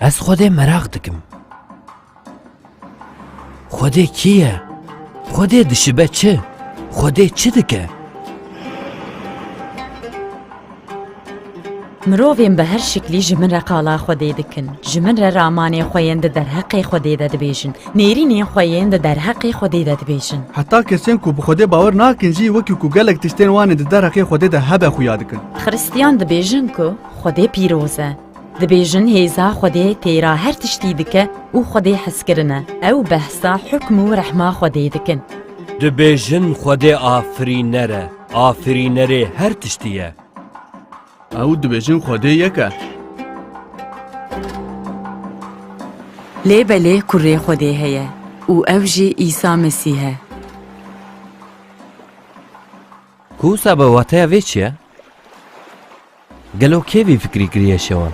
Ez Xwedê meraq dikim. Xwedê kî ye? Xwedê dişibe çi? Xwedê çi dike? Mirovên bi her şiklî ji min re qala Xwedê dikin. Ji min re ramanê xwe yên di derheqê Xwedê de dibêjin. Nêrînên xwe yên di derheqê Xwedê de dibêjin. Heta kesên ku bi Xwedê bawer nakin jî wekî ku gelek tiştên wan ên di derheqê Xwedê de hebe xuya dikin. Xiristiyan dibêjin ku Xwedê pîroz e. Dibêjin hêza Xwedê têra her tiştî dike û Xwedê hezkirin e. Ew behsa hukm û rehma Xwedê dikin. Dibêjin Xwedê afirîner e, afirînerê her tiştî ye. Ew dibêjin Xwedê yek e. Lê belê kurê Xwedê heye û ew jî Îsa Mesîh e. Ku wisa be wateya vê çi ye? Gelo kê vî fikrî kiriye şewan?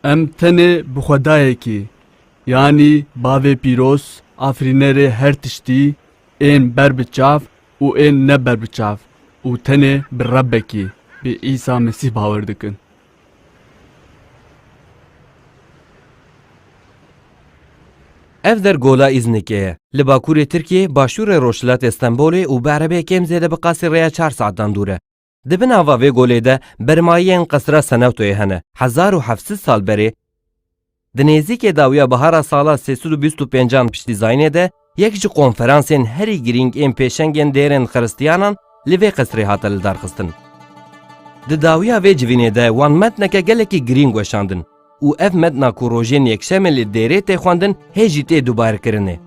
Em tenê bi Xwedayekî, yanî Bavê Pîroz, Afirînerê her tiştî, ên ber bi çav û ên ne ber bi çav û tenê bi Rebekî, bi Îsa Mesîh bawer dikin. Ev der Gola Îznikê ye. Li bakurê Tirkiyê, başûrê rojhilatê Stenbolê û bi erebeyê kêm zêde bi qasî rêya çar saetan dûr e. Di bin ava vê golê de bermayiyên Qesra Senewtoyê hene. Hezar û heft sed sal berê, di nêzîkê dawiya bihara sala sê sed û bîst û pêncan piştî Zaynê de yek ji konferansên herî girîng ên pêşengên dêrên xiristiyanan li vê qesrê hate lidarxistin. Di dawiya vê civînê de wan metneke gelekî girîng weşandin. û ev metna ku rojên yekşemê li Dêrê tê xwendin hê jî tê dubarkirin e.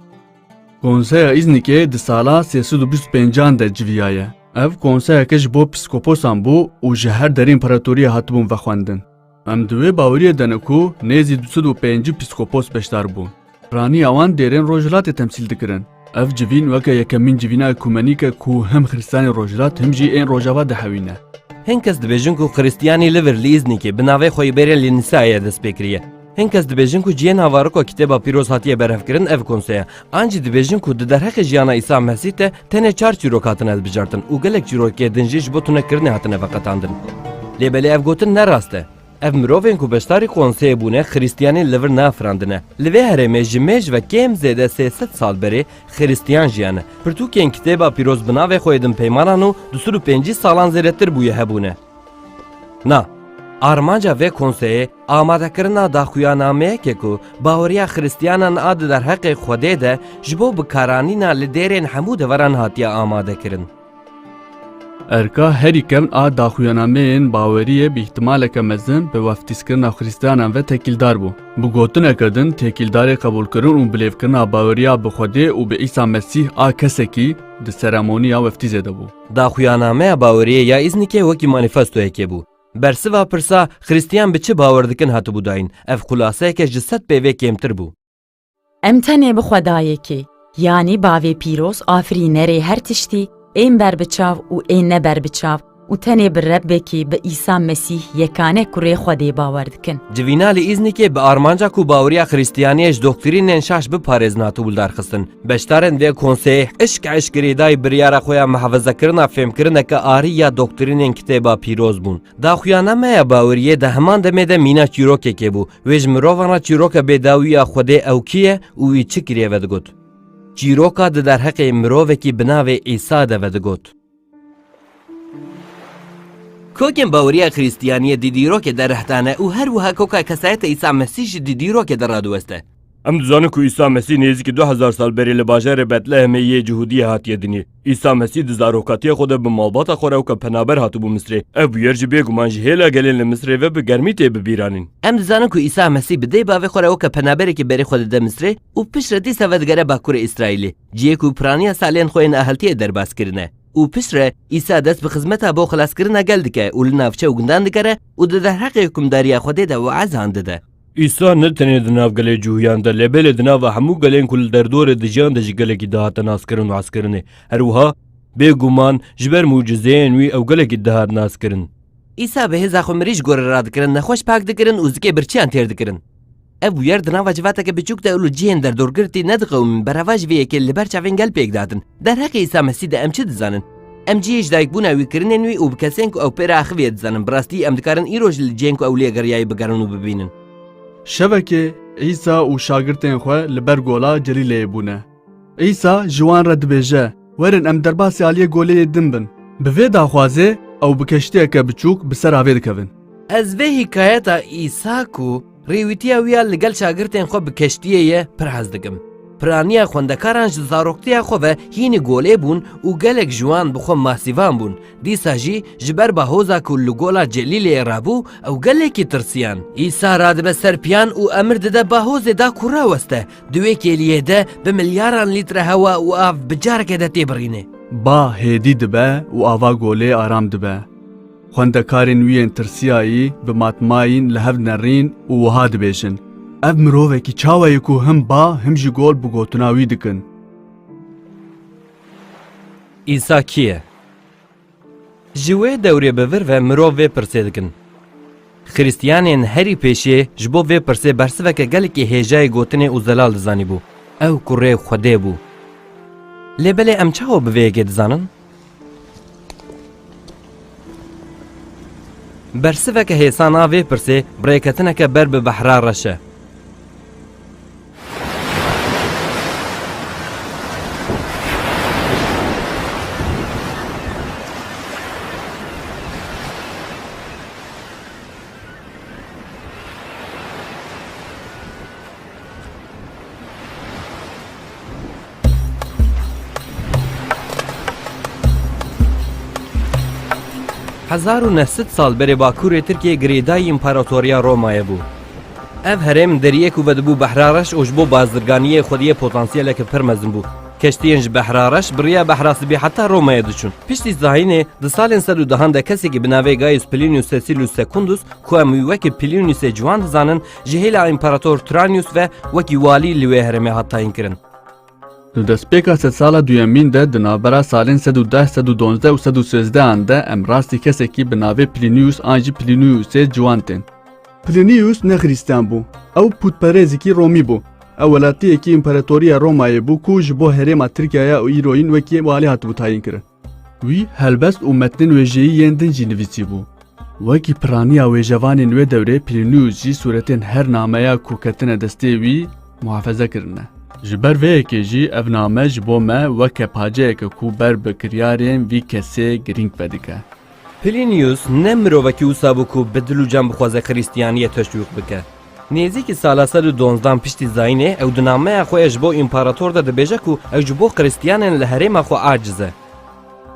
Konseya Îznikê di sala sê sed û bîst û pêncan de civiyaye. Ev konseyeke ji bo psîkoposan bû û ji her derê împaratoriyê hatibûn vexwendin. Em di wê baweriyê de ne ku nêzî du sed û pêncî psîkopos beşdar bûn. Raniya wan dêrên Rojhilatê temsîl dikirin. Ev civîn weke yekemîn civîna ekumenîk e ku him xiristanên Rojhilat him jî ên Rojava dihewîne. Hin kes dibêjin ku xiristiyanî li vir li Îznîkê bi navê xwe yê bêrên li Nisayê dest pê kiriye. Hin kes dibêjin ku cihê navariko Kitêba Pîroz hatiye berhevkirin ev konse ye. An jî dibêjin ku di derheqê jiyana Îsa Mesîh de tenê çar çîrok hatine hilbijartin û gelek çîrokê din jî ji bo tunekirinê hatine veqetandin. Lê belê ev gotin ne rast e. Ev mirovên ku beşdarî konseyê bûne xirîstiyanên li vir nafirandine. Li vê herêmê ji mêj ve kêm zêde sê sed sal berê xirîstiyan jiyane. Pirtûkên Kitêba Pîroz bi navê xwe yê din peymanan û du sed û pêncî salan zêdetir bûye hebûne. Na. Armanca vê konseyê amadekirina daxuyanameyeke ku baweriya xirîstiyanan a di derheqê Xwedê de ji bo bikaranîna li dêrên hemû deveran hatiye amadekirin. Erka herî kevn a daxuyanameyên baweriyê bi îhtimaleke mezin bi weftîskirina xrîstiyanan ve tekîldar bû. Bi gotineke din tekîldarê qebûlkirin û bilêvkirina baweriya bi Xwedê û bi Îsa Mesîh a kesekî di seremoniya weftîzê de bû. Daxuyanameya baweriyê ya Îznikê wekî manîfestoyekê bû. Bersiva pirsa xrîstiyan bi çi bawer dikin hatibû dayîn, ev xulaseyeke ji sed pê vê kêmtir bû. Em tenê bi Xwedayekê, yanî Bavê Pîroz, Afirînerê her tiştî, ên berbiçav û ên ne berbiçav û tenê bi Rebbekê, bi Îsa Mesîh yekane kurê Xwedê bawer dikin. Civîna li Îznikê bi armanca ku baweriya Xiristiyaniyê ji doxtirînên şaş biparêzin hate wildarxistin. Beşdarên vê konseyê hişk eşkerî dayî biryara xwe ya mihefezekirina fêmkirineke arî ya doxtirînên Kitêba Pîroz bûn. Daxuyana me ya baweriyê di heman demê de mîna çîrokekê bû, Wê ji mirovan re çîroka bêdawî ya Xwedê ew kî ye û wî çi kiriye vedigot. Çîroka di derheqê mirovekî bi navê Îsa de vedigot. Kokên bawerî ya Krîstiyaniyê di dîrokê de reh dane û her wiha koka kesayeta Îsa Mesîh jî di dîrokê de radiweste. Em dizanin ku Îsa Mesîh nêzîkî du hezar sal berê li bajarê Betlehemê yê Cihûdiyê hatiye dinê. Îsa Mesîh di zarokatiya xwe de bi malbata xwe re weke penaber hatibû Misrê. Ev bûyer jî bêguman ji hêla gelên li Misrê ve bi germî tê bibîranîn. Em dizanin ku Îsa Mesîh bi dê bavê xwe re weke penaberekî berê xwe dide Misrê û piştre dîsa vedigere bakurê Îsraîlê, cihê ku piraniya salên xwe yên aheltiyê derbas kirine. Û piştre Îsa dest bi xizmeta bo xelaskirina gel dike û li navçe û gundan digere û di derheqê hukimdariya Xwedê de weazan dide. Îslam ne tenê di nav gelê cûhiyan de lê belê di nava hemû gelên ku li derdorê dijiyan de jî gelekî dihate naskirin û heskirinê. Her wiha bê guman ji ber mucizeyên wî ew gelekî dihat naskirin. Îsa bi hêza xwe mirî ji gorê re radikirin, nexweş pak dikirin û zikê birçiyan têr dikirin. Ev bûyer di nava civateke biçûk de û li cihên derdorgirtî nediqewimîn, berava ji vê yekê li ber çavên gel pêk dihatin. Derheqê Îsa Mesîh de em çi dizanin? Em cihê ji dayikbûna wî kirine nûî û bi kesên ku ew pê re axiviye dizanin. Bi rastî em dikarin îroj li cihên ku ew lê geriyayî bigerin û bibînin. Şevekê Îsa û şagirtên xwe li ber gola Celîleyê bûne. Îsa ji wan re dibêje, Werin em derbasî aliyê goleyê din bin. Bi vê daxwazê ew bi keştiyeke biçûk bi sera vê dikevin. Ez vê hikayeta Îsa ku. Rêwîtiya wî ya li gel şagirtên xwe bi keştiyê ye pir hez dikim. Piraniya xwendekaran ji zaroktiya xwe ve hînî golê bûn û gelek ji wan bi xwe masîvan bûn. Dîsa jî ji ber bahoza ku li Gola Celîleyê rabû ew gelekî tirsiyan. Îsa radibe ser piyan û emir dide bahozê da ku raweste. Di wê kêliyê de bi milyaran lître hewa û av bi careke de tê birîne. Ba hêdî dibe û ava golê aram dibe. Xwendekarên wî yên tirsiyayî bi matmayîn li hev nerîn û wiha dibêjin, Ev mirovekî çawa ye ku him ba him jî gol bi gotina wî dikin? Îsa kî ye? Ji wê dewrê bi vir ve mirov vê pirsê dikin. Xiristiyanên herî pêşiyê ji bo vê pirsê bersiveke gelekî hêjayî gotinê û zelal dizanîbû, ew kurê Xwedê bû. Lê belê em çawa bi vê yekê dizanin? Bersiveke hêsan a vê pirsê bi rêketineke ber bi behra reş e. Hezar û neh sed sal berê bakurê Tirkiyê girêdayî Împaratoriya Romayê bû. Ev herêm deriyê ku vedibû Behra Reş û ji bo bazirganiyê xwediyê potansiyeleke pir mezin bû. Keştiyên ji Behra Reş biriya Behra Sibî heta Romayê diçûn. Piştî zayînê di salên sed û dehan de kesekî bi navê Gaius Plinius Cecilius Secundus ku em wî wekî Pliniusê Ciwan dizanin ji hêla Împarator Tranius ve wekî walî li wê herêmê hat tayînkirin. Li destpêka sedsala duyemîn de di navbera salên sed û deh sed û duwazdeh û sed û sêzdehan de em rastî kesekî bi navê Plinius an jî Pliniusê ciwan tên. Plinius ne xrîstiyan bû, ew pûtperêzikî Romî bû. Ew welatiyekî Împaratoriya Romayê bû ku ji bo herêma Tirkiyaya û îro yîn wekî walî hatibû tayînkirin. Wî helbest û metnên wêjeyî yên din jî nivîsîbû. Wekî piraniya wêjevanên wê dewrê Plinius jî sûretên her nameya ku ketine destê wî muhafeze kirine. Ji ber vê yekê jî ev name ji bo me weke paceyeke ku ber bi kiryarên vî kesê girîng vedike. Plinius ne mirovekî wisa bû ku bi dil û can bixwaze Xirîstiyaniyê teşwîq bike. Nêzîkî sala sed û donzdan piştî zayînê ew di nameya xwe ya ji bo împarator de dibêje ku ew ji bo Xirîstiyanên li herêma xwe aciz e.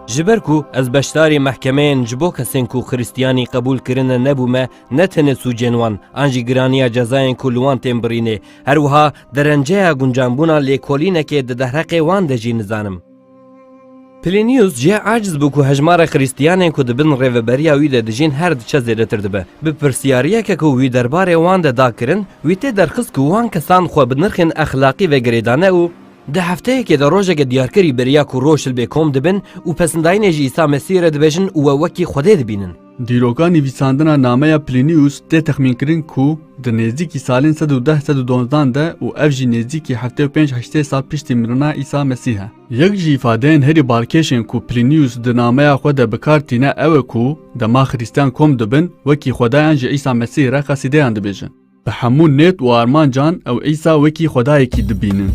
Ji ber ku ez beşdarî mehkemeyên ji bo kesên ku Xirîstiyanî qebûl kirine nebûme ne tenê sûcên wan an jî giraniya cezayên ku li wan tên birînê her wiha derenceya guncanbûna lêkolînekê di derheqê wan de jî nizanim. Plinius jî aciz bû ku hejmara Xrîstiyanên ku di bin rêveberiya wî de dijîn her diçe zêdetir dibe. Bi pirsiyariyeke ku wî derbarê wan de da kirin, wî tê derxist ku wan kesan xwe bi nirxên exlaqî ve girêdane û, Di hefteyekê de rojeke diyarkirî beriya ku roj li bê kom dibin û pesindayînê ji Îsa Mesîhê re dibêjin û we wekî Xwedê dibînin. Dîroka nivîsandina nameya Plinius tê texmînkirin ku di nêzdîkî salên sed û deh sed û donzdan de û ev jî nêzdîkî heftê û pênc heştê sal piştî mirina Îsa Mesîh e. Yek ji îfadeyên herî balkêşên ku Plinius di nameya xwe de bi kar tîne ew e ku dema Xirîstiyan kom dibin wekî xwedayan ji Îsa Mesîh re qesîdeyan dibêjin. Bi hemû nêt û armancan ew Îsa wekî Xwedayekî dibînin.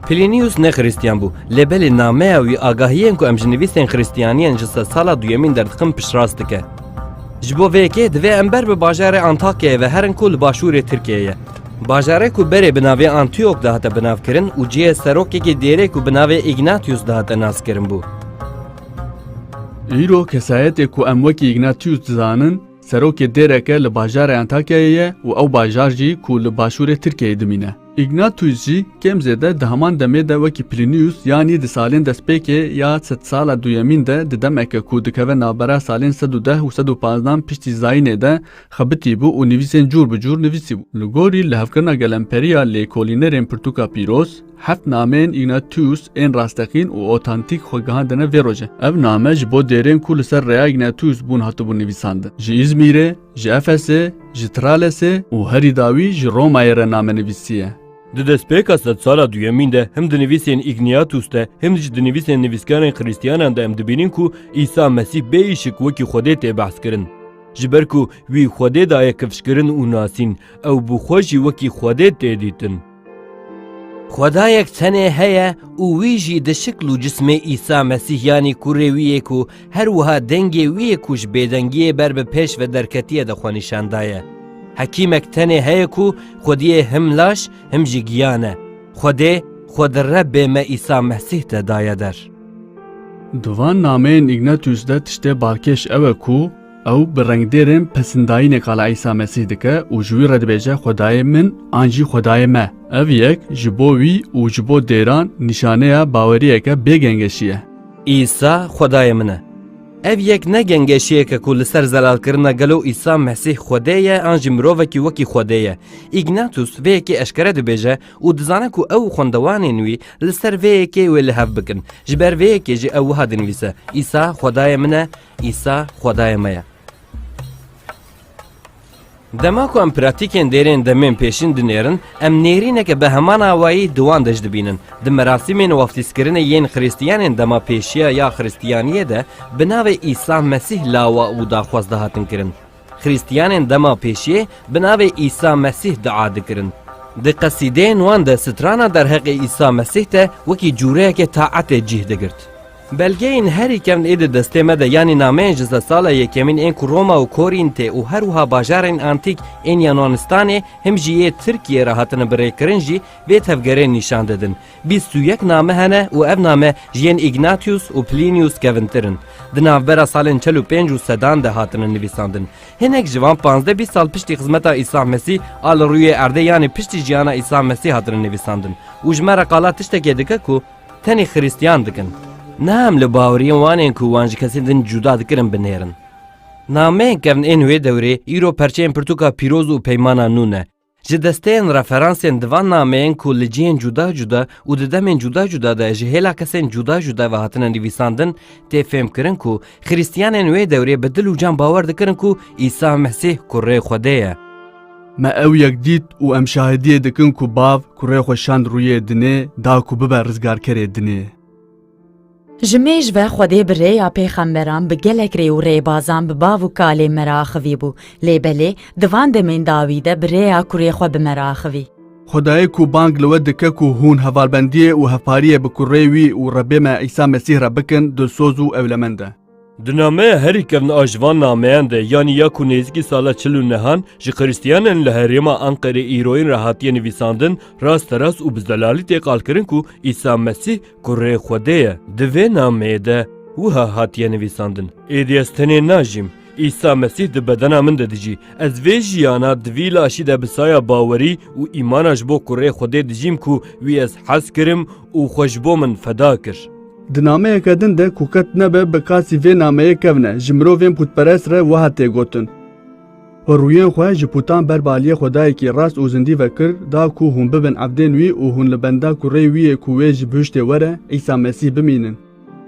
Plinius ne Xristiyan bû, lê belê nameya wî agahiyên ku em ji nivîsên Xristiyaniyên ji sedsala duyemîn derdixin piştrast dike. Ji bo vê yekê divê em ber bi bajarê Antakyayê ve herin ku li başûrê Tirkiyeyê ye. Bajarê ku berê bi navê Antiyok dihate binavkirin û cihê serokekî dêrê ku bi navê Îgnatiyus dihate naskirin bû. Îro kesayetê ku em wekî Îgnatiyus dizanin, serokê dêreke li bajarê Antakyayê ye û ew bajar jî ku li başûrê Tirkiyeyê dimîne. Îgnatiyus jî kêm zêde di heman demê de wekî Plîniyus yanî di salên destpêkê ya sedsala duyemîn de di demeke ku dikeve navbera salên sed û deh û sed û panzdan piştî Zayînê de Xebitî bû û nivîsên cûr bi cûr nivîsî bû. Li gorî li hevkirina gelemperîya lêkolînerên pirtûka pîroz, heft nameyên Ignatius ên rasteqîn û otantîk xwe gihandine vê roje. Ev name ji bo dêrên ku li ser rêya Ignatius bûn hatibûn nivîsandin. Ji Îzmîrê, ji Efesê, ji Tralesê û herî dawî ji Romayê re name nivîsiye. Di destpêka sedsala duyemîn de him di nivîsên Igniatus de him jî di nivîsên nivîskarên xirîstiyanan de em dibînin ku Îsa Mesîh bê îşik wekî Xwedê tê behs kirin. Ji ber ku wî Xwedê daye kifşkirin û nasîn, ew bi xwe jî wekî Xwedê tê dîtin. Xwedayek tenê heye û wî jî di şikl û cismê Îsa Mesîh yanî Kurê wî yê ku her wiha dengê wî yê ku ji bêdengiyê ber bi pêş ve derketiye de xwe nîşan daye. Hekîmek tenê heye ku Xwediyê him laş him jî giyan e. Xwedê xwe di Rebbê me Îsa Mesîh de daye der. Di van nameyên Ignatius de tiştê balkêş ew e ku ew bi rengdêrên pesindayîneka li Îsa Mesîh dike û ji wî re dibêje Xwedayê min an jî Xwedayê me. Ev yek ji bo wî û ji bo dêran nîşaneya baweriyeke bê gengeşî ye. Îsa Xwedayê min e. Ev yek ne gengeşiyek e ku li ser zelalkirina gelo Îsa Mesîh Xwedê ye an jî mirovekî wekî Xwedê ye. Ignatius vê yekê eşkere dibêje, û dizane ku ew û xwendewanên wî li ser vê yekê wê li hev bikin. Ji ber vê yekê jî ew wiha dinivîse, Îsa Xwedayê min e, Îsa Xwedayê me ye. Dema ku em pratîkên dêrên demên pêşîn dinêrin, em nêrîneke bi heman awayî di wan de jî dibînin. Di merasîmên waftîzkirinê yên Xrîstiyanên dema pêşiya ya Xrîstiyaniyê de bi navê Îsa Mesîh lawa û daxwaz dihatin kirin. Xrîstiyanên dema pêşiyê bi navê Îsa Mesîh dua dikirin. Di qesîdeyên wan de strana derheqê Îsa Mesîh de wekî cûreyeke taetê cîh digirt. Belgeyên herî kevn ê di destê me de yanî nameyên ji sedsala yekemîn ên ku Roma û Korîntê û her wiha bajarên antîk ên Yunanistanê him jî yê Tirkiyê re hatine birêkirin jî vê tevgerê nîşan didin. Bîst û yek name hene û ev name ji yên Îgnatius û Plinius kevintir in. Di navbera salên çel û pênc û sedan de hatine nivîsandin. Hinek ji van panzdeh bîst sal piştî xizmeta Îsa Mesî a li rûyê erdê yanî piştî jiyana Îsa Mesî hatine nivîsandin û ji me re qala tiştekê dike ku tenê xirîstiyan dikin. Ne em li baweriyên wan ên ku wan ji kesên din cuda dikirin binêrin. Nameyên kevn ên wê dewrê îro perçeyên pirtûka pîroz û peymana nû ne. Ji desteyên referansên di van nameyên ku li cihên cuda cuda û di demên cuda cuda de ji hêla kesên cuda cuda ve hatine nivîsandin tê fêmkirin ku xirîstiyanên wê dewrê bi dil û can bawer dikirin ku Îsa Mesîh Kurê Xwedê ye. Me ew yek dît û em şahidiyê dikin ku Bav kurê xwe şand rûyê dinê da ku bibe rizgarkerê dinê. Ji mêj ve Xwedê bi rêya pêxemberan bi gelek rê û rêbazan bi bav û kalê me re axivîbû, lê belê di van demên dawî de bi rêya kurê xwe bi me re axivî. Xwedayê ku bang li we dike ku hûn hevalbendiyê û hevpariyê bi kurê wî û Rebê me Îsa Mesîh re bikin dilsoz û ewlemend e. Di nameya herî kevna a ji van nameyan de yanî ya ku nêzîkî sala çil û nehan ji xiristiyanan li herêma Anqerê îroyîn re hatiye nivîsandin rasterast û bi zelalî tê qalkirin ku Îsa Mesîh kurê Xwedê ye. Di vê nameyê de wiha hatiye nivîsandin. Êdî ez tenê najîm. Îsa Mesîh di bedena min de dijî. Ez vê jiyana di vî laşî de bi saya bawerî û îmana ji bo kurê Xwedê dijîm ku wî ez hez kirim û xwe ji bo min feda kir. Di nameyeke din de ku qet nebe bi qasî vê nameyê kevne, ji mirovên pûtperest re wiha tê gotin, Xwe rûyên xwe ji pûtan ber bi aliyê xwedayekî rast û zindî ve kir, da ku hûn bibin ebdên wî û hûn li benda kureyê wî yê ku wê ji bihiştê were, Îsa Mesîh, bimînin.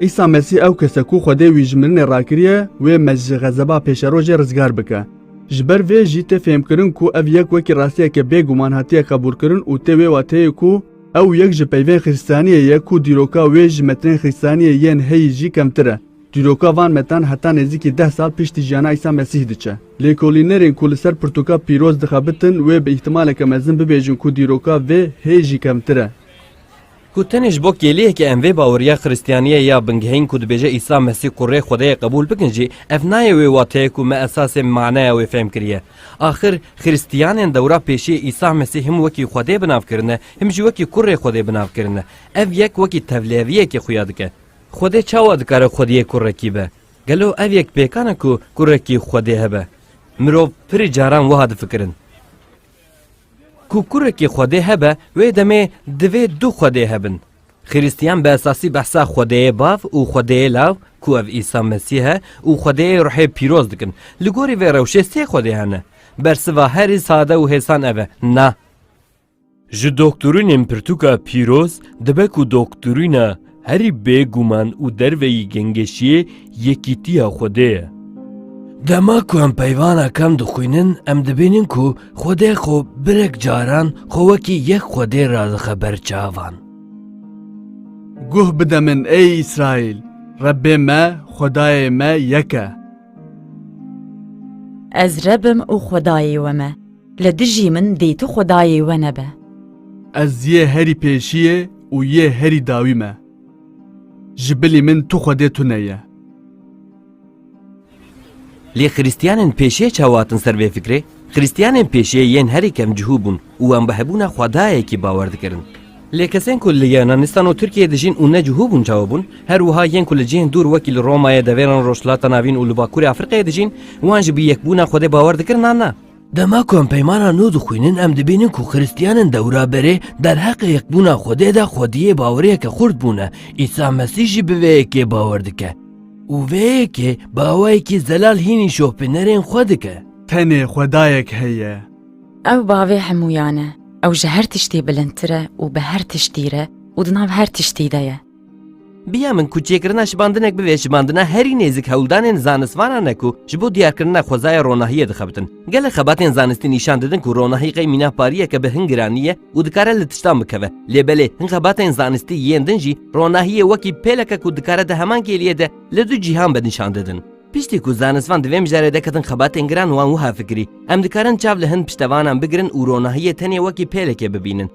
Îsa Mesîh ew kes e ku Xwedê wî ji mirinê rakiriye wê me ji xezeba pêşerojê rizgar bike. Ji ber vê jî tê fêhmkirin ku ev yek wekî rastiyeke bêguman hatiye qebûlkirin û tê wê wateyê ku, Ew yek ji peyvên xîrsaniyê ye ku dîroka wê ji metrên xîrsaniyê yên heyî jî kemtir e. Dîroka van metran heta nêzîkî deh sal piştî jiyana Îsa Mesîh diçe. Lêkolînerên ku li ser pirtûka pîroz dixebitin wê bi îhtimaleke mezin bibêjin ku dîroka vê hê jî kemtir e. Ku tenê ji bo kêliyeke em vê baweriya xîrsaniyê ya bingehîn ku dibêje Îsa Mesîh ku rê Xwedayê qebûl bikin jî, ev nayê wê wateyê ku me esasê maneya wê fêhm kiriye. Axir Xiristiyanên dewra pêşiyê Îsa Mesîh him wekî Xwedê bi nav kirine, him jî wekî Kurê Xwedê bi nav kirine. Ev yek wekî tevlêviyekê xuya dike. Xwedê çawa dikare xwediyê kurekî be? Gelo ev yek pêkan e ku kurekî xwedê hebe? Mirov pirî caran wiha difikirin. Ku kurekî xwedê hebe wê demê divê du xwedê hebin. Xirîstiyan bi esasî behsa Xwedêyê Bav û Xwedêyê Lav ku ev Îsa Mesîh e û Xwedêyê Ruhê Pîroz dikin. Li gorî vê rewşê sê Xwedê hene. Bersiva herî sade û hêsan ev e, na. Ji doktorînên pirtûka pîroz dibe ku doktorîna herî bêguman û derveyî gengeşiyê Yekîtiya Xwedê ye. Dema ku em peyvana kem dixwînin em dibînin ku Xwedê xwe birek caran xwe wekî yek Xwedê radixe ber çavan. Guh bide min ey Îsraîl, Rebbê me, Xwedayê me yek e. Ez Reb im û Xwedayê we me, li dijî min dê tu Xwedayê we nebe. Ez yê herî pêşiyê û yê herî dawî me. Ji bilî min tu Xwedê tune ye. Lê xirîstiyanên pêşê çawa hatin ser vê fikrê? Xirîstiyanên pêşê yên herî kem cihû bûn û wan bi hebûna xwedayekî bawer dikirin. Lê kesên ku li Yunanistan û Tirkiyeyê dijîn û ne cihû bûn çawa bûn? Her wiha yên ku li cihên dûr wekî li Romayê, devêran Rojhilata Navîn û li Bakurê Afrîqayê dijîn, wan jî bi yekbûna Xwedê bawer dikirin an na? Dema ku em peymana nû dixwînin em dibînin ku Xristiyanin dewra berê derheqê yekbûna Xwedê de xwediyê baweriyeke xurt bûne. Îsa Mesîh jî bi vê yekê bawer dike. Û vê yekê bi awayekî zelal hînî şopînerên xwe dike. Tenê Xwedayek heye. Ew bavê hemûyan e. Ew ji her tiştî bilindtir e û bi her tiştî re û di nav her tiştî de ye. Biya min ku çêkirina şibandinek bibe şibandina herî nêzik hewldanên zanistvanan e ku ji bo diyarkirina xwezaya ronahiyê dixebitin. Gelek xebatên zanistî nîşan didin ku ronahî qey mîna pariyeke bi hin giranî ye û dikare li tiştan bikeve. Lê belê hin xebatên zanistî yên din jî ronahiyê wekî pêleke ku dikare di heman kêliyê de li du cîhan be nîşan didin. Piştî ku zanistvan di vê mijarê de ketin xebatên giran wan wiha fikirî, Em dikarin çav li hin piştevanan bigirin û ronahiyê tenê wekî pêlekê bibînin.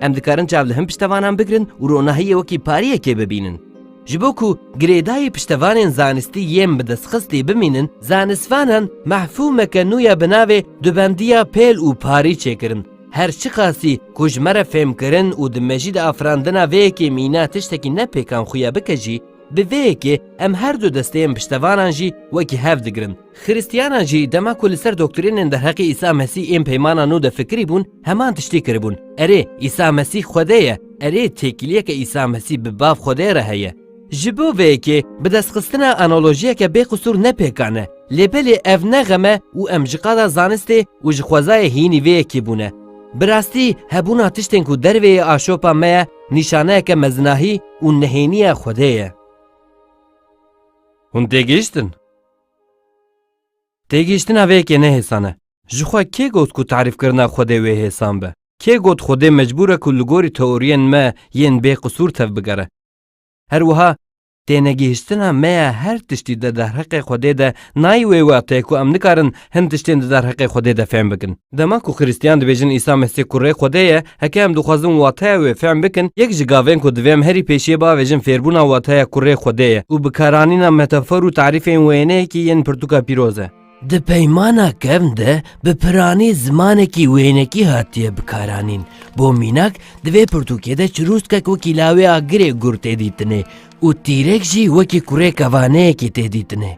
Em dikarin çav li hin piştevanan bigirin û ronahiyê wekî pariyekê bibînin. Ji bo ku girêdayî piştevanên zanistî yên bi destxistî bimînin, zanistvanan mehfûmeke nû ya bi navê dubendiya pêl û parî çêkirin. Her çiqasî ku ji me re fêmkirin û di mejî de afirandina vê yekê mîna tiştekî ne pêkan xuya bike jî, bi vê yekê em her du desteyên piştevanan jî wekî hev digirin. Xirîstiyanan jî dema ku li ser doktrînên derheqê Îsa Mesîh ên Peymana Nû de fikirî bûn, heman tiştî kiribûn, Erê, Îsa Mesîh Xwedê ye, erê, têkiliyeke Îsa Mesîh bi Bav Xwedê re heye. Ji bo vê yekê bi destxistina analojiyeke bêqisûr ne pêkan e, lê belê ev ne xem e û em ji qada zanistê û ji xwezayê hînî vê yekê bûne. Bi rastî hebûna tiştên ku dervê yê aşopa me ye nîşaneyeke mezinahî û nehêniya Xwedê ye. Hûn têgihiştin? Têgihiştina vê yekê ne hêsan e. Ji xwe kê got ku tarîfkirina Xwedê wê hêsan be? Kê got Xwedê mecbûr e ku li gorî teoriyên me yên bêqisûr tevbigere? Her wiha tênegihiştina me ya her tiştî di derheqê Xwedê de nayê wê wextê ku em nikarin Hin tiştên di derheqê Xwedê de fehm bikin. Dema ku Xiristiyan dibêjin Îsa Mesîh kurê Xwedê ye, heke em dixwazin wateya wê fehm bikin, yek ji gavên ku divê em herî pêşiyê biavêjin fêrbûna wateya kurê Xwedê ye û bikaranîna metafor û tarîfên wêneyekî yên Pirtûka Pîroz e. Di Peymana Kevn de bi piranî zimanekî wênekî hatiye bikaranîn. Bo mînak, di vê pirtûkê de çirûskek wekî lawê a girê gur tê dîtinê û tîrek jî wekî kurê kevaneyekî tê dîtinê.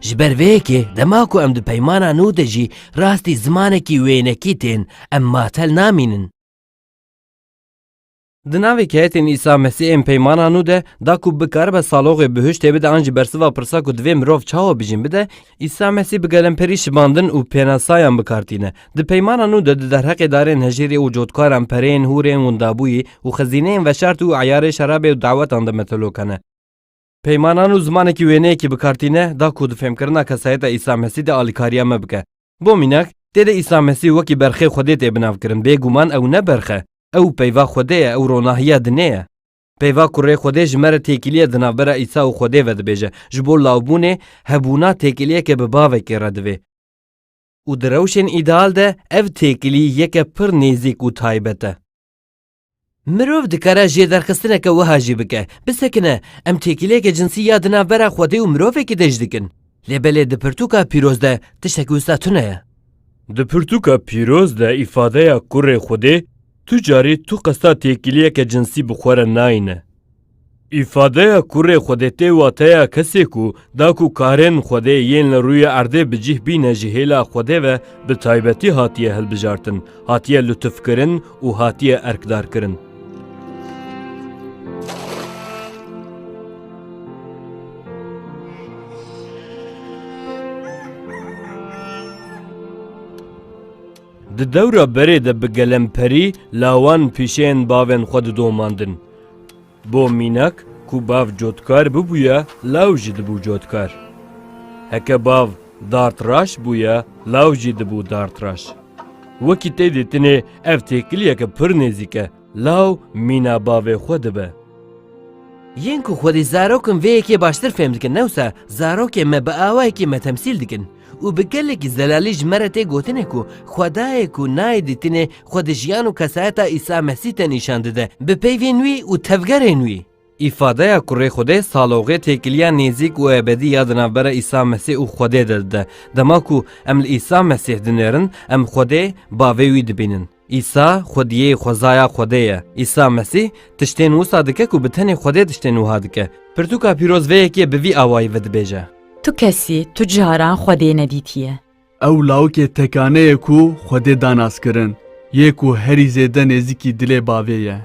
Ji ber vê yekê dema ku em di peymana nû de jî rastî zimanekî wênekî tên, em matel namînin. Di navê keyetên Îsa Mesî ên peymana nû de da ku bikaribe saloxê bi hiştê bide an jî bersiva pirsa ku divê mirov çawa bijîn bide, Îsa Mesî bi gelemperî şibandin û pênasayan bikar tîne. Di peymana nû de di derheqê darên hejîrê û cotkaran, pereyên, hûrên, windabûyî û xizîneyên veşart û eyarê şerabê û dawetan de metelok hene. Peymanan û zimanekî wêneyekî bi kar tîne da ku di fêmkirina kesayeta Îsa Mesî de alîkariya me bike. Bo mînak, tê de Îsa Mesî wekî berxê Xwedê tê binavkirin, bêguman ew ne berx e, ew peyva Xwedê ye, ew ronahiya dinê ye. Peyva kurê Xwedê ji me re têkiliyê di navbera Îsa û Xwedê ve dibêje. Ji bo lawbûnê, hebûna têkiliyeke bi bavekê re divê. Û di rewşên îdeal de ev têkilî yeke pir nêzîk û taybet e. Mirov dikare jêderxistineke wiha jî bike, bisekine em têkiliyeke cinsî ya di navbera xwedê û mirovekî de jî dikin. Lê belê di pirtûka pîroz de tiştekî wisa tune ye. Di pirtûka pîroz de îfadeya kurê xwedê tu carî tu qesta têkiliyeke cinsî bi xwe re nayîne. Îfadeya kurê Xwedê tê wateya kesê ku da ku karên Xwedê yên li rûyê erdê bi cîh bîne ji hêla Xwedê ve bi taybetî hatiye hilbijartin, hatiye lutufkirin û hatiye erkdarkirin. Di dewra berê de bi gelemperî lawan pîşeyên bavên xwe didomandin. Bo mînak ku bav cotkar bibûye law jî dibû cotkar. Heke bav dartraş bûye law jî dibû dartraş. Wekî tê dîtinê ev têkiliyeke pir nêzîk e, law mîna bavê xwe dibe. Yên ku xwedî zarokin vê yekê baştir fêm dikin newsa zarokên me bi awayekî me temsîl dikin. Û bi gelekî zelalî ji me re tê gotin e ku Xwedayê ku nayê dîtinê xwe di jiyan û kesayeta Îsa Mesîh de nîşan dide bi peyvên wî û tevgerên wî. Îfadeya kurê Xwedê saloxê têkiliya nêzîk û ebedî ya di navbera Îsa Mesîh û Xwedê de dide. Dema ku em li Îsa Mesîh dinêrin, em Xwedê, Bavê wî dibînin. Îsa xwediyê xwezaya Xwedê ye. Îsa Mesîh tiştên wisa dike ku bi tenê Xwedê tiştên wiha dike. Pirtûka pîroz vê yekê bi vî awayî vedibêje. Tu kesî tu caran Xwedê nedîtiye. Ew lawikê tekane ye ku Xwedê da naskirin, yê ku herî zêde nêzîkî dilê bavê ye.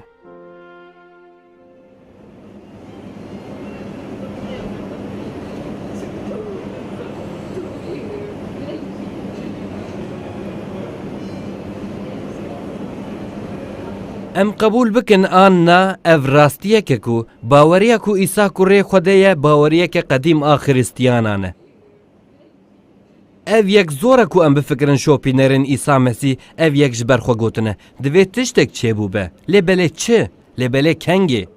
Em qebûl bikin an na, ev rastiyek e ku baweriya ku Îsa kurê Xwedê ye baweriyeke qedîm a Xiristiyanan e. Ev yek zor e ku em bifikirin şopînerên Îsa Mesî ev yek ji ber xwe gotine, divê tiştek çêbûbe. Lê belê çi? Lê belê kengê?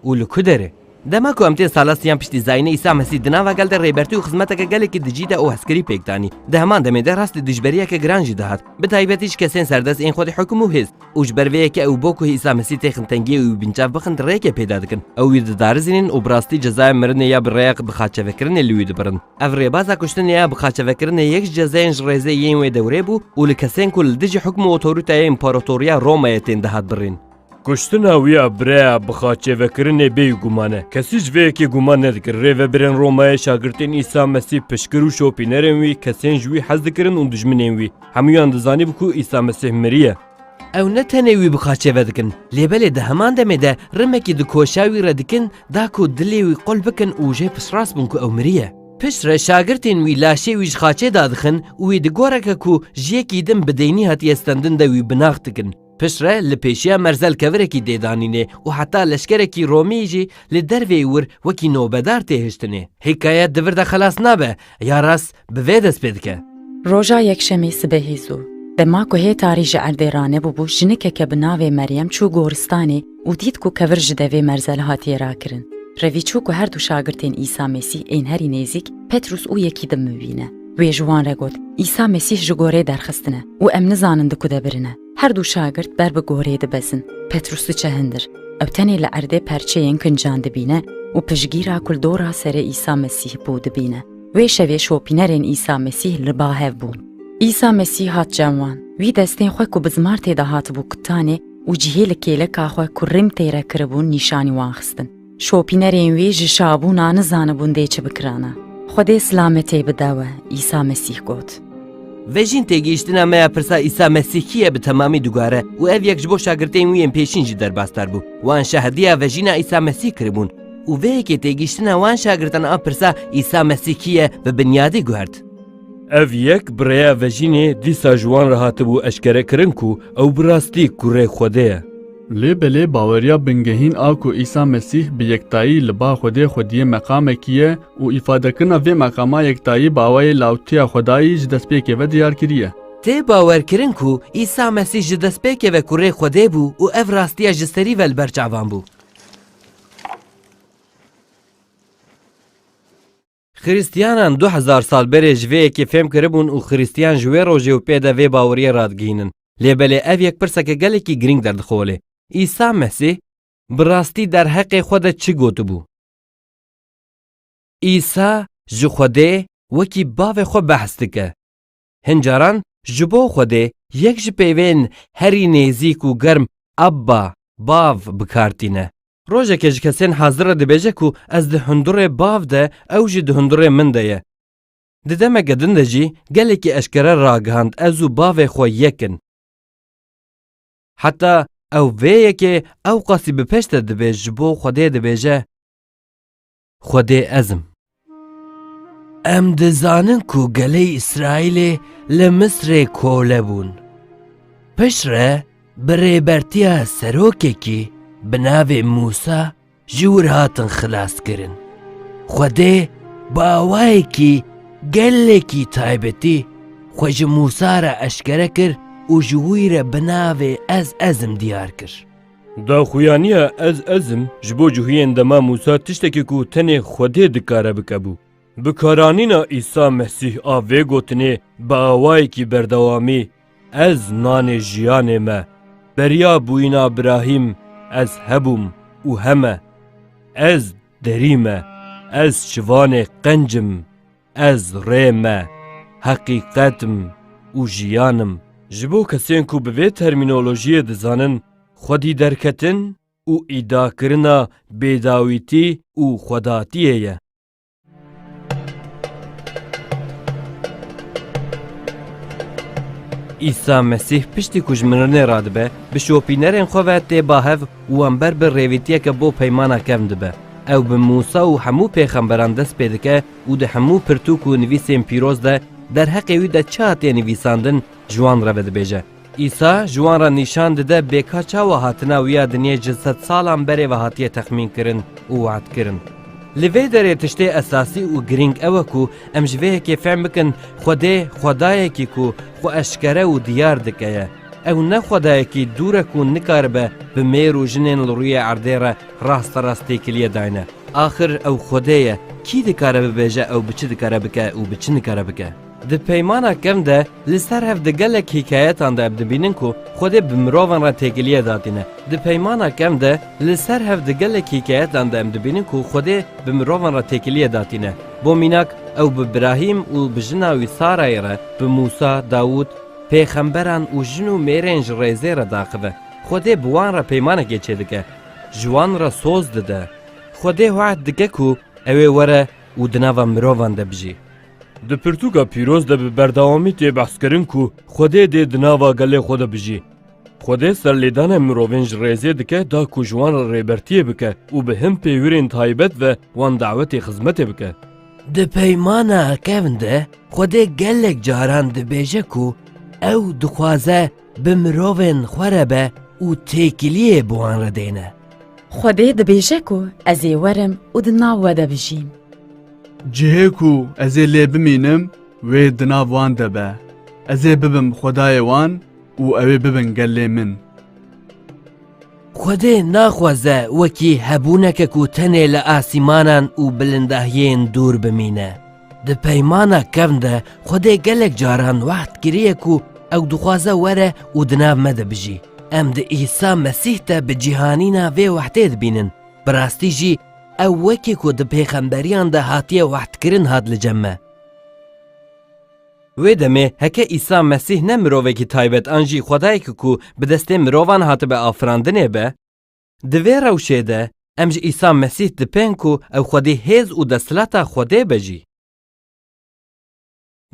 Û li ku derê? Dema ku em tên salasiyan piştî zayînê Îsa Mesî di nava gel de rêbertî û xizmeteke gelekî dijî de û hezkirî pêk danî. Di heman demê de rastî dijberiyeke giran jî dihat. Bi taybetî ji kesên serdest ên xwedî hukum û hêz. û ji ber vê yekê ew bo ku Îsa Mesîh tê xintengiyê wî binçav bixin rêkê pêda dikin. Ew wî didarizînin û bi rastî cezaya mirinê ya bi rêya bixaçevekirinê li wî dibirin. Ev rêbaza kuştinê ya bixaçevekirinê yek ji cezayên ji rêzê yên wê dewrê bû û li kesên ku li dijî hukm û otoritaya Împaratoriya Romayê tên dihat birîn. Kuştina wî ya bi rêya bixaçevekirinê bêyî guman e. Kesî ji vê yekê guman nedikir rêvebirên Romayê şagirtên Îsa Mesîh piştgir û şopînerên wî, kesên ji wî hez dikirin û dijminên wî, Hemûyan dizanîb ku Îsa Mesîh miriye. Ew ne tenê wî bi qaçê ve dikin, lê belê di heman demê de rimekî di koşa wî re dikin da ku dilê wî qul bikin û jê piştrast bin ku ew miriye. Pişt re şagirtên wî laşê wî ji qaçê da dixin û wî di goreke ku ji yekî din bi deynî hatiye stendin de wî binax dikin. Pişt re li pêşiya merzel kevirekî dê danînê û heta leşkerekî Romî jî li derveyî wir wekî nobedar tê hiştinê. Hîkayet di vir de xelas nabe, ya rast bi vê dest pê dike. Roja yekşemî sibehî zû, dema ku hê tarî ji erdê ranebûbû jinikeke bi navê Meryem çû goristanê û dît ku kevir ji devê merzel hatiye rakirin. Revî çû ku her du şagirtên Îsa Mesîh ên herî nêzîk, Petrûs û Yekîdim mivîne. Wê ji wan re got, Îsa Mesîh ji gorê derxistin e û em nizanin di ku de birin e. Her du şagirt ber bi gorê dibezin. Petrûs diçe hindir. Ew tenê li erdê perçeyên kincan dibîne û piştgîra ku li dora serê Îsa Mesîh bû dibîne. Wê şevê şopînerên Îsa Mesîh li ba hev bûn. Îsa Mesîh hat cem wan. Wî destên xwe ku bi zimartê de hatibû kutanê û cihê li kêleka xwe ku rîm tê re kiribûn nîşanî wan xistin. Şopînerên wî ji şabûna nizanibûn dê çi bikirana. Xwedê silametê bide we, Îsa Mesîh got. Vejîn têgihiştina me ya pirsa Îsa Mesîh kî ye bi temamî digware û ev yek ji bo şagirtên wî yên pêşîn jî derbasdar bû. Wan şahidîya vejîna Îsa Mesîh kiribûn û vê yekê têgihiştina wan şagirtan a pirsa Îsa Mesîh kî ye bi binyadî guhert. Ev yek bi rêya vejînê dîsa ji wan re hatibû eşkerekirin ku ew bi rastî kurê Xwedê ye. Lê belê baweriya bingehîn a ku Îsa Mesîh bi yektayî li ba Xwedê xwediyê meqamekî ye û îfadekirina vê meqama yektayî bi awayê lawtiya Xwedayî ji destpêkê ve diyar kiriye. Tê bawerkirin ku Îsa Mesîh ji destpêkê ve kurê Xwedê bû û ev rastiya ji serî ve li ber çavan bû. Xirîstiyanan du hezar sal berê ji vê yekê fêm kiribûn û xirîstiyan ji wê rojê û pê de vê baweriyê radigihînin. Lê belê ev yek pirseke gelekî girîng derdixole, Îsa Mesîh bi rastî derheqê xwe de çi gotibû? Îsa ji Xwedê wekî Bavê xwe behs dike. Hin caran ji bo Xwedê yek ji peyvên herî nêzîk û germ Abba, Bav, bi kar tîne. Rojekê ji kesên hazir re dibêje ku ez di hundurê Bav de ew jî di hundurê min de ye. Di demeke din de jî gelekî eşkere ragihand ez û Bavê xwe yek in. Heta ew vê yekê ewqasî bi pêş de dibê ji bo Xwedê dibêje. Xwedê ez im. Em dizanin ku gelê Îsraîlê li Misrê kole bûn. Piştre bi rêbertiya serokekî bi navê Mûsa ji wir hatin xilaskirin. Xwedê bi awayekî gelekî taybetî xwe ji Mûsa re eşkere kir û ji wî re bi navê Ez Ez im diyar kir. Daxuyaniya ez ez im ji bo cihuyên dema Mûsa tiştekî ku tenê Xwedê dikare bike bû. Bikaranîna Îsa Mesîh a vê gotinê bi awayekî berdewamî, Ez nanê jiyanê me, beriya bûyîna birahîm ez hebûm û heme, ez derî me, ez şivanê qenc im. Ez rê me, heqîqet im û jiyan im. Ji bo kesên ku bi vê termînolojiyê dizanin xwedî derketin û îdiakirina bêdawîtî û xwedatiyê ye. Îsa Mesîh piştî ku ji mirinê radibe, bi şopînerên xwe ve tê ba hev û wan ber bi rêvîtiyeke bo peymana kevn dibe. Ew bi Mûsa û hemû pêxemberan dest pê dike û di hemû pirtûk û nivîsên pîroz de derheqê wî de çi hatiye nivîsandin ji wan re vedibêje. Îsa ji wan re nîşan dide bêka çawa hatina wî ya dinyê ji sed salan berê ve hatiye texmînkirin û wa'dkirin. Li vê derê tiştê esasî û girîng ew e ku em ji vê yekê fehm bikin Xwedê Xwedayekî ku xwe eşkere û diyar dike ye. Ew ne Xwedayekî dûr e ku nikaribe bi mêr û jinên li rûyê erdê re Rasterast têkiliye dayne. Axir ew Xwedê ye, kî dikare bibêje ew bi çi dikare bike û bi çi nikare bike? Di Peymana Kevn de li ser hev di gelek hîkayetan de ev dibînin ku Xwedê bi mirovan re têkiliye datîne. Di Peymana Kevn de li ser hev di gelek hîkayetan de em dibînin ku Xwedê bi mirovan re têkiliye datîne. Bo mînak ew bi Brahîm û bi jina wî Sarayê re, bi Mûsa, Dawûd, pêxemberan û jin û mêrên ji rêzê re daxive. Xwedê bi wan re peymanekê çêdike. Ji wan re soz dide. Xwedê wehd dike ku ew ê were û di nava mirovan de bijî. Di pirtûka pîroz de bi berdewamî tê behskirin ku Xwedê dê di nava gelê xwe de bijî. Xwedê serlêdanên mirovên ji rêzê dike da ku ji wan re rêbertiyê bike û bi hin pêwirên taybet ve wan dawetê xizmetê bike. Di peymana kevn de Xwedê gelek caran dibêje ku ew dixwaze Bi mirovên xwe re be û têkiliyê bi wan re dêne. Xwedê dibêje ku ez ê werim û di nav we de bijîm. Cihê ku ez ê lê bimînim wê di nav wan de be. Ez ê bibim Xwedayê wan û ew ê bibin gelê min. Xwedê naxwaze wekî hebûneke ku tenê li asîmanan û bilindahiyên dûr bimîne. Di peymana kevn de Xwedê gelek caran wehd kiriye ku ew dixwaze were û di nav me de bijî. Em di Îsa Mesîh de bi cîhanîna vê wehdê dibînin. Bi rastî jî ew wekî ku di pêxemberiyan de hatiye wehdkirin hat li cem me. Wê demê heke Îsa Mesîh ne mirovekî taybet an jî Xwedayekî ku bi destê mirovan hatibe afirandinê be, Di vê rewşê de em ji Îsa Mesîh dipên ku ew xwedî hêz û desthilata Xwedê be jî.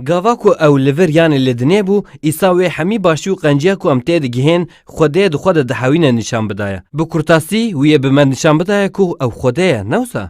Gava ku ew li vir yanê li dinê bû, Îsa wê hemî başî û qenciya ku em têdigihên Xwedê di xwe de dihewîne nîşan bidaye. Bi kurtasî wî yê bi me nîşan bidaye ku ew Xwedê ye, ne wisa?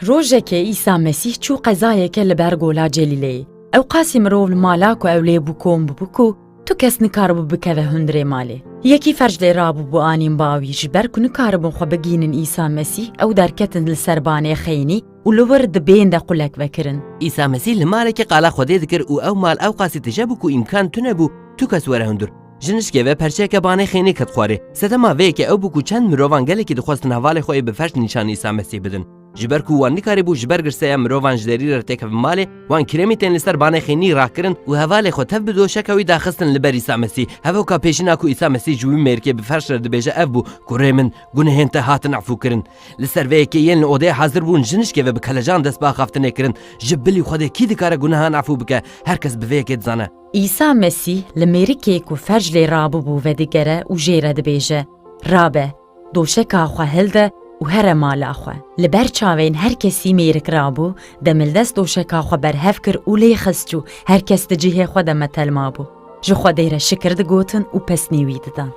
Rojekê Îsa Mesîh çû qezayeke li ber gola Celîleyê. Ewqasî mirov li mala ku ew lê bû kom bûbû ku tu kes nikaribû bikeve hundirê malê. Yekî ferç lê rabûbû anîn bawî ji ber ku nikaribûn xwe bigihînin Îsa Mesîh ew derketin li ser banê xeynî û li wir di bên de qulek vekirin. Îsa Mesîh li malekê qala Xwedê dikir û ew mal ewqasî tije bû ku îmkan tune bû tu kes were hundir. Ji nişkê ve perçeyeke banê xênî ket xwarê. Sedema vê yekê ew bû ku çend mirovan gelekî dixwestin hevalê xwe yê bi ferç nîşanî Îsa Mesîh bidin. Ji ber ku wan nikarîbû ji ber girseya mirovan ji derî re têkevin malê, wan kremî tên li ser banê xênî rax kirin û hevalê xwe tev bi doşeka wî de xistin li ber Îsa Mesîh. Hevoka pêşîna ku Îsa Mesîh ji wî mêrikê bi ferç re dibêje ev bû ku rê min, gunehên te hatin efûkirin. Li ser vê yekê yên li odeyê hezir bûn ji nişkê ve bi kelecan dest bi axaftinê kirin. Ji bilî Xwedê kî dikare gunehan efû bike? Her kes bi vê yekê dizane. Îsa Mesîh li mêrikê ku ferj lê rabûbû vedigere û jê re dibêje, Rabe, doşeka xwe hilde û here mala xwe. Li ber çavên her kesî mêrik rabû, demildest doşeka xwe berhev kir û lê xist çû, her kes di cihê xwe de metel mabû. Ji Xwedê re şikir digotin û pesnî wî didan.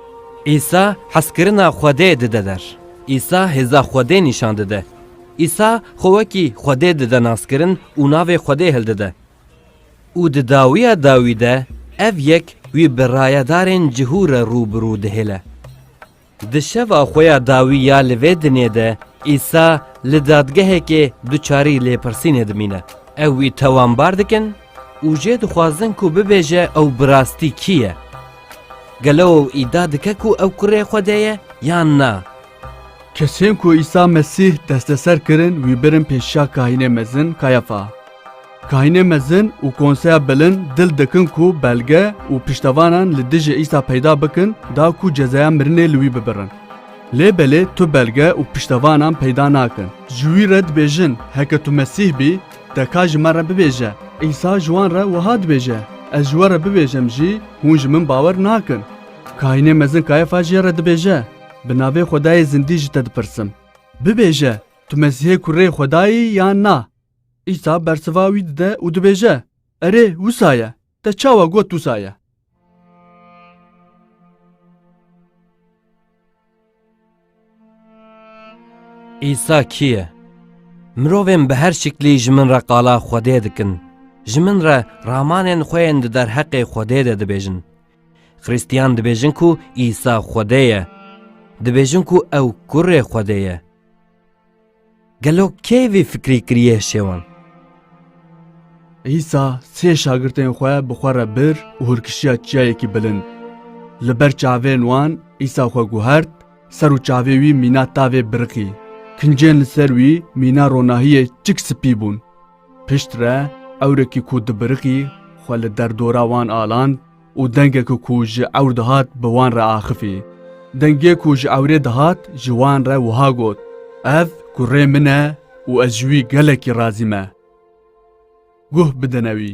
Îsa hezkirina Xwedê dide der. Îsa hêza Xwedê nîşan dide. Îsa xwe wekî Xwedê dide naskirin û navê Xwedê hildide. Û di dawiya dawî de ev yek wî bi rayedarên cihû re rû bi rû dihêle. Di şeva xwe ya dawî ya li vê dinyê de Îsa li dadgehekê duçarî lêpirsînê dimîne. Ew wî tawanbar dikin û jê dixwazin ku bibêje ew bi rastî kî ye. Gelo ew îdia dike ku ew kurê Xwedê ye yan na? Kesên ku Îsa Mesîh desteser kirin wî birin pêşiya Kahînê Mezin Kayafa. Kahinê mezin û konseya bilind dil dikin ku belge û piştevanan li dijî Îsa peyda bikin da ku cezaya mirinê li wî bibirin. Lê belê tu belge û piştevanan peyda nakin. Ji wî re dibêjin, Heke tu Mesîh bî, te ka ji me re bibêje. Îsa ji wan re wiha dibêje, Ez ji we re bibêjem jî, hûn ji min bawer nakin. Kahinê mezin Kayefa jê re dibêje, Bi navê Xwedayê zindî ji te dipirsim. Bibêje, tu Mesîhê kurê Xwedayî yan na? Îsa bersiva wî dide û dibêje, Erê, wisa ye. Te çawa got wisa ye? Îsa kî ye? Mirovên bi her şiklî ji min re qala Xwedê dikin, ji min re ramanên xwe yên di derheqê Xwedê de dibêjin. Xristiyan dibêjin ku Îsa Xwedê ye. Dibêjin ku ew kurê Xwedê ye. Gelo kê vê fikrê kiriye şewan? Îsa sê şagirtên xwe bi xwe re bir û hûrkişiya çiyayekî bilind. Li ber çavên wan Îsa xwe guhert, ser û çavê wî mîna tavê biriqî. Kincên li ser wî mîna ronahiyê çik spî bûn. Piştre ewrekî ku dibiriqî xwe li derdora wan aland, û dengek ku ji ewr dihat bi wan re axifî. Dengê ku ji ewrê dihat ji wan re wiha got, Ev kurê min e û ez ji wî gelekî razî me. Guh bidine wî.